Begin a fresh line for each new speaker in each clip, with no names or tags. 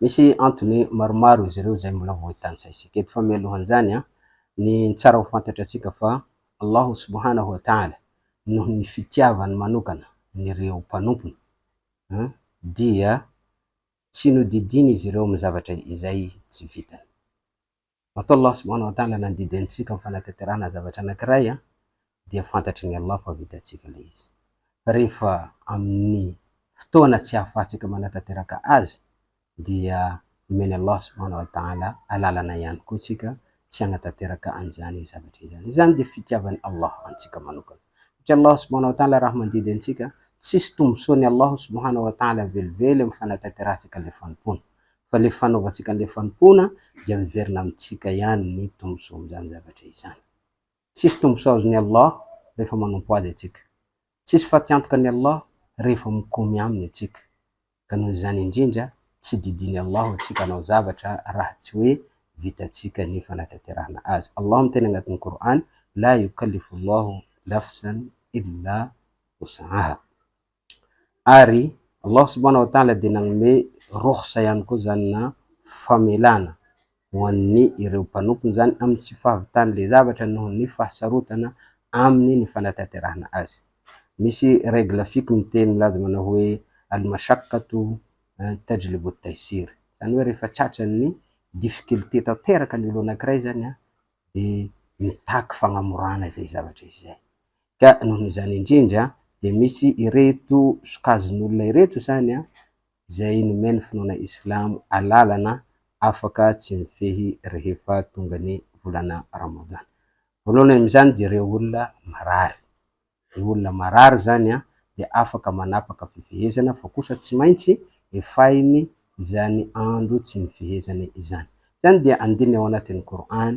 Misy antony maromaro izy ireo izay mbola voatantsaintsika eto fa mialohan'izany ny tsara ho fantatratsika fa Allah subhanahu wa ta'ala noho ny fitiavany manokana an'ireo mpanompony dia tsy nodidiany izy ireo amin'ny zavatra izay tsy vitany. Atao Allah subhanahu wa ta'ala nandidy antsika amin'ny fanatanterahana zavatra anankiray dia fantatry ny Allah fa vitantsika ilay izy. Fa rehefa amin'ny fotoana tsy ahafahantsika manatanteraka azy dia nomen'i Allah subhanahu wa ta'ala alalana ihany koa isika tsy hanatanteraka an'izany zavatra izany. Izany dia fitiavan'i Allah antsika manokana. Satria Allah subhanahu wa ta'ala raha mandidy antsika, tsisy tombontsoan'i Allah subhanahu wa ta'ala velively amin'ny fanatanterantsika ilay fanompoana. fa ilay fanaovantsika an'ilay fanompoana dia miverina amintsika ihany ny tombontsoan'izany zavatra izany. Tsisy tombontsoa azon'i Allah rehefa manompo Azy antsika. Tsisy fatiantoka an'i Allah rehefa mikomy Aminy antsika. Ka noho izany indrindra, tsy didian'i Allah ho antsika hanao zavatra raha tsy hoe vitantsika ny fanatanterahana azy. Allah miteny agnatin'ny Qur'an, La yukallifu Allahu nafsan illa wus'aha. Ary Allah subhanahu wa ta'ala dia nanome rukhsa ihany koa izany na famelana ho an'ny ireo mpanompony izany amin'ny tsy fahavitan'ilay zavatra noho ny fahasarotana aminy ny fanatanterahana azy. Misy règle fiqh miteny milaza manao hoe Al-mashaqqatu tajlibu at-taysir, izany hoe rehefa tratran'ny difficulté tanteraka ny olona anankiray izany dia mitaky fagnamorana izay zavatra izay. Ka noho izany indrindra dia misy ireto sokazin'olona ireto izany izay nomen'ny finoana islamo alalana afaka tsy mifehy rehefa tonga ny volana Ramadan. Voalohany amin'izany dia ireo olona marary. Ny olona marary izany dia afaka manapaka fifehezana fa kosa tsy maintsy efahiny izany andro tsy nifehezany izany. Izany dia andininy ao anatin'ny Kor'any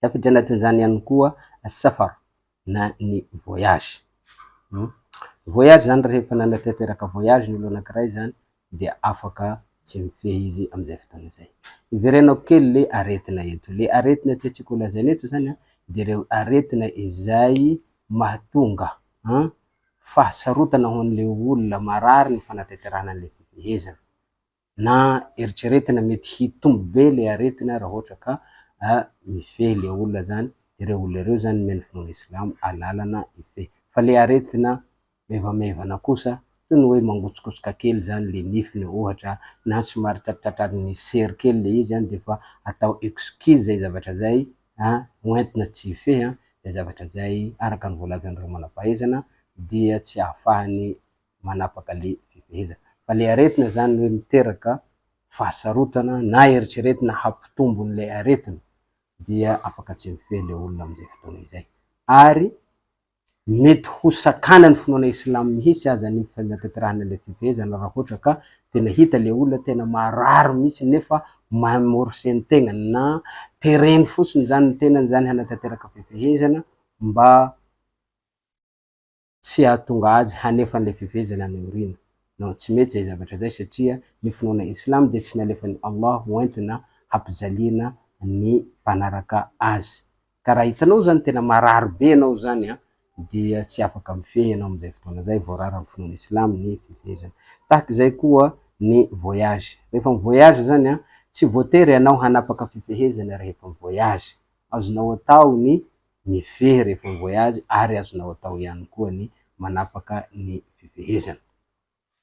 Tafiditra anatin'izany ihany koa safar na ny voyage. Voyage zany rehefa nanatanteraka voyage ny olona anankiray zany dia afaka tsy mifehy izy amin'izay fotoana zay. Iverenako kely le aretina eto. Le aretina tiantsika ho lazaina eto zany an, de reo aretina izay mahatonga an fahasarotana ho an'le olona marary ny fanatanterahana an'le fifehezana. Na eritreretina mety hitombo be le aretina raha ohatra ka mifehy le olona zany de reo olona reo zany nomen'ny finoana silamo alalana hifehy fa le aretina maivamaivana kosa toy ny hoe mangotsokotsoka kely zany le nifiny ohatra na somary tratratratran'ny sery kely le izy an defa atao excuse zay zavatra zay an ho entina tsy hifehy an zay zavatra zay araka ny voalazan'ireo manam-pahaizana dia tsy ahafahan'ny manapaka le fifehezana. Fa le aretina zany hoe miteraka fahasarotana na eritreretina hampitombo an'ilay aretina dia afaka tsy mifehy le olona amin'izay fotoana izay. Ary mety ho sakana ny finoana islam mihitsy aza ny fanatanterahana le fifehezana raha ohatra ka tena hita le olona tena marary mihitsy nefa mamorse ny tegnany na tereny fotsiny zany ny tenany zany hanatanteraka fifehezana mba tsy hahatonga azy hanefa an'ilay fiveziana any aoriana. Non, tsy mety izay zavatra izay satria ny finoana Islam dia tsy nalefan'i Allah ho entina hampijaliana ny mpanaraka azy. Ka raha hitanao izany tena marary be ianao izany an, dia tsy afaka mifehy ianao amin'izay fotoana izay, voarara amin'ny finoana Islam ny fivezina. Tahaka izay koa ny voyage. Rehefa mi-voyage izany an, tsy voatery ianao hanapaka fifehezana rehefa mi-voyage. Azonao atao ny Mifehy rehefa mi-voyage ary azonao atao ihany koa ny manapaka ny fifehezana.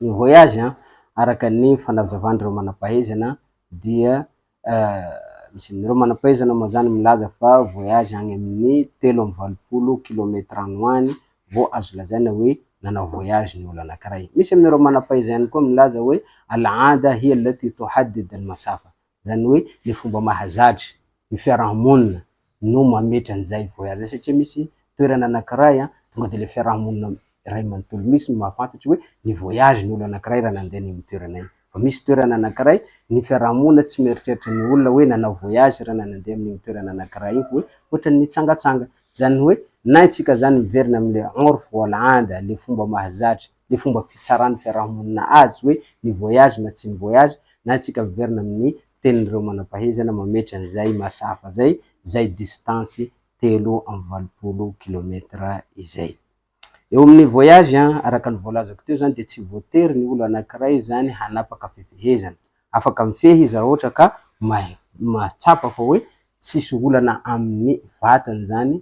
Ny voyage, araka ny fanazavan'ireo manampahaizana dia misy amin'ireo manampahaizana moa izany milaza fa voyage any amin'ny telo amby valopolo kilometatra any ho any vao azo lazaina hoe nanao voyage ny olona anankiray. Misy amin'ireo manampahaizana ihany koa milaza hoe al'ahad hiya allati tuhaddid al-masafa, Izany hoe le fomba mahazatra ny fiaraha-monina no mametra an'izay voyage zay satria misy toerana anakiray an, tonga de le fiaraha-monina iray manontolo misy no mahafantatra hoe ny voyage ny olo anakiray raha nandeha any amin'ny toerana iny. Fa misy toerana anakiray ny fiaraha-monina tsy mieritreritra ny olona hoe nanao voyage raha nandeha amin'iny toerana anakiray iny fa hoe ohatran'ny nitsangatsanga. Izany hoe na antsika zany miverina amin'ny le en route for land le fomba mahazatra le fomba fitsaran'ny fiarahamonina azy hoe ny voyage na tsy ny voyage na antsika miverina amin'ny tenin'ireo manam-pahezana mametra an'izay mahasahafa zay zay distance telo amby valopolo kilomètre izay eo amin'ny voyage an! araka ny voalazako teo zany dia tsy voatery ny olo anakiray zany hanapaka fifehezana afaka mifehy izy raha ohatra ka mahatsapa fa hoe tsisy olana amin'ny vatany zany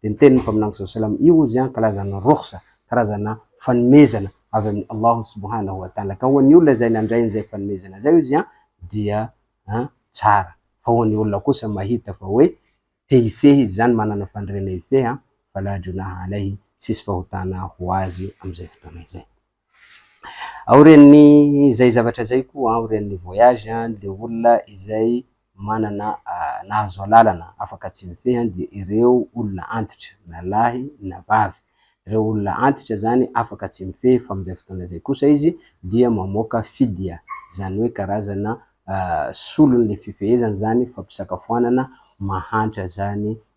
Dia niteny ny Mpaminany SAW, Io hozy an kalazan'ny rukhsa, karazana fanomezana avy amin'i Allahu subhanahu wa ta'ala, ka ho an'ny olona izay nandray an'izay fanomezana izay hozy an dia an tsara, fa ho an'ny olona kosa mahita fa hoe te hifehy izy izany, manana faniriana hifehy an, fala junaha alayhi, tsisy fahotana ho azy amin'izay fotoana izay. Aorian'ny izay zavatra izay koa, aorian'ny voyage, le olona izay manana nahazo alalana afaka tsy mifehy dia ireo olona antitra, na lahy na vavy, ireo olona antitra izany afaka tsy mifehy fa amin'izay fotoana izay kosa izy dia mamoaka fidya, izany hoe karazana solon'le fifehezana izany fampisakafoanana mahantra izany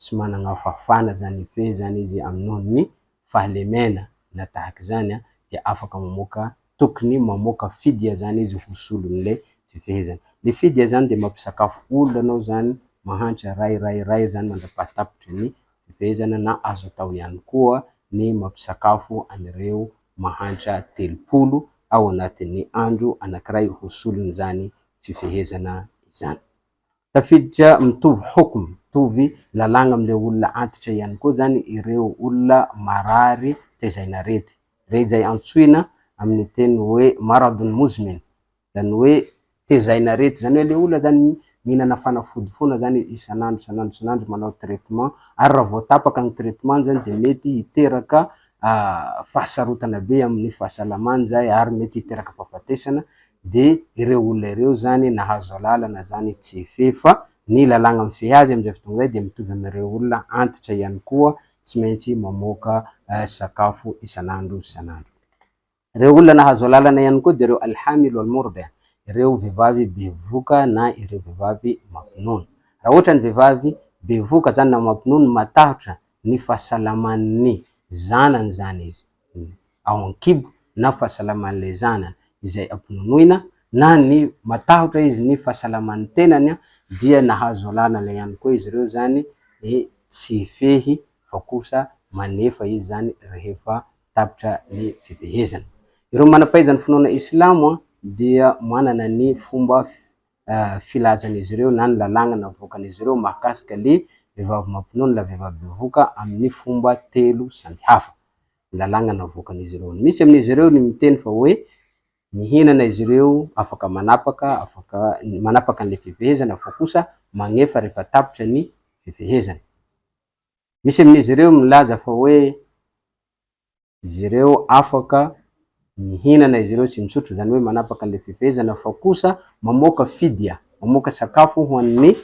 tsy managna fahafana zany efe zany izy aminony fahalemena na tahaka izany an dia afaka mamoaka tokony mamoaka fidia zany izy ho solonle fifehezana le fidia zany dia mampisakafo olona anao zany mahantra ray ray ray zany mandrapahatapitry ny fifehezana na azo atao ihany koa ny mampisakafo an'ireo mahantra telopolo ao anatin'ny andro anakiray ho solon'izany fifehezana izany Tafiditra mitovy hukm, mitovy lalàgna amin'ilay olona antitra ihany koa izany ireo olona marary tezain'arety, re izay antsoina amin'ny teny hoe maradun muzmin, izany hoe tezain'arety, izany hoe ilay olona izany mihinana fanafody foana izany isan'andro isan'andro isan'andro, manao traitement, ary raha vao tapaka ny traitement-ny izany dia mety hiteraka fahasarotana be amin'ny fahasalamany izay ary mety hiteraka fahafatesana, de ireo olona ireo zany nahazo alalana zany tsy efeh fa ny lalàgna mifehy azy amizay fotoagna zay de mitovy amireo olona antitra ihany koa tsy maintsy mamoaka sakafo isanandro isanandro reo olona nahazo alalana ihany koa de reo alhamil wal mordia ireo vevavy bevoka na ireo vevavy mampinono ra ohatrany vevavy bevoka zany na mampinono matahotra ny fahasalamany zanany zany izy ao an-kibo na fahasalaman'ilay zanany izay ampononoina na ny matahotra izy ny fahasalaman'ny tenany dia nahazo alalana ihany koa izy ireo izany hoe tsy hifehy fa kosa manefa izy izany rehefa tapitra ny fifehezana. Ireo manam-pahaizan'ny finoana Islamo dia manana ny fomba filazan'izy ireo na ny lalàgna navoakan'izy ireo mahakasika le vehivavy mampinono na vehivavy bevoka amin'ny fomba telo samihafa. Ny lalàgna navoakan'izy ireo. Ny misy amin'izy ireo ny miteny fa hoe mihinana izy ireo afaka manapaka, afaka manapaka an'le fifehezana fa kosa magnefa rehefa tapitra ny fifehezana. Misy amin'izy ireo milaza fa hoe. izy ireo afaka mihinana izy ireo sy misotro, izany hoe manapaka an'ilay fifehezana, fa kosa mamoaka fidya, mamoaka sakafo ho an'ny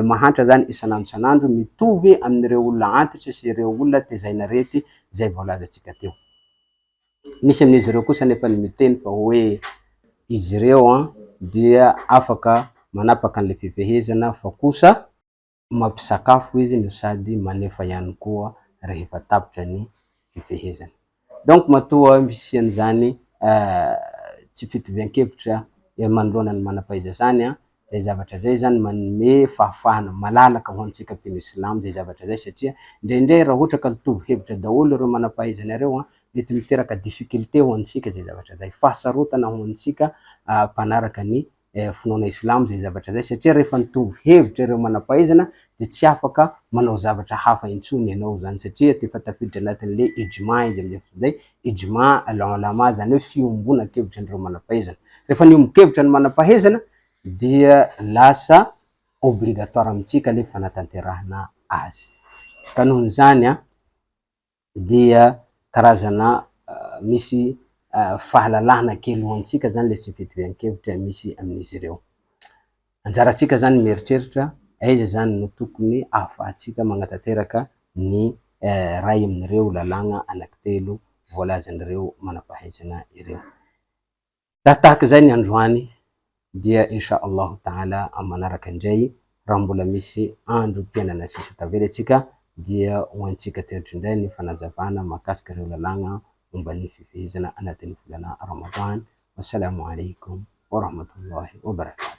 mahantra izany isan'andro isan'andro, mitovy amin'ireo olona antitra sy ireo olona tezain'arety izay voalazantsika teo. Misy amin'izy ireo kosa anefa ny miteny fa hoe izy ireo dia afaka manapaka an'ilay fifehezana fa kosa, mampisakafo izy no sady manefa ihany koa rehefa tapitra ny fifehezana. Donc matoa misy an'izany tsy fitovian-kevitra eo manoloana ny manam-pahaiza izany an, izay zavatra izay izany manome fahafahana malalaka ho antsika mpino silamo izay zavatra izay satria indraindray raha ohatra ka mitovy hevitra daholo ireo manam-pahaiza anareo an, mety miteraka difficulté ho antsika izay zavatra izay, fahasarotana ho antsika mpanaraka ny finoana Islamo izay zavatra izay satria rehefa nitovy hevitra ireo manam-pahaizana dia tsy afaka manao zavatra hafa intsony ianao izany satria efa tafiditra anatin'ilay ijma izy amin'izay fotoana izay, ijma al-ulama izany hoe fiombonan-kevitra an'ireo manam-pahaizana. Rehefa niombon-kevitra ny manam-pahaizana dia lasa obligatoire amintsika ilay fanatanterahana azy. Ka noho izany an! dia karazana misy fahalalahana kely ho antsika zany le tsy fitovian-kevitra misy amin'izy ireo. Anjarantsika zany ny mieritreritra aiza zany no tokony ahafahantsika magnatanteraka ny iray amin'ireo lalàgna anankitelo voalazan'ireo manam-pahaizana ireo. Raha tahaka izay ny androany dia Insha Allahu Taala amin'ny manaraka indray raha mbola misy andro mpiainana sisa tavela isika dia ho antsika teto indray ny fanazavana mahakasika ireo lalàgna momba ny fifehezana anatin'ny volana Ramadan. Wassalamu Alaikum wa Rahmatullahi wa Barakatuh.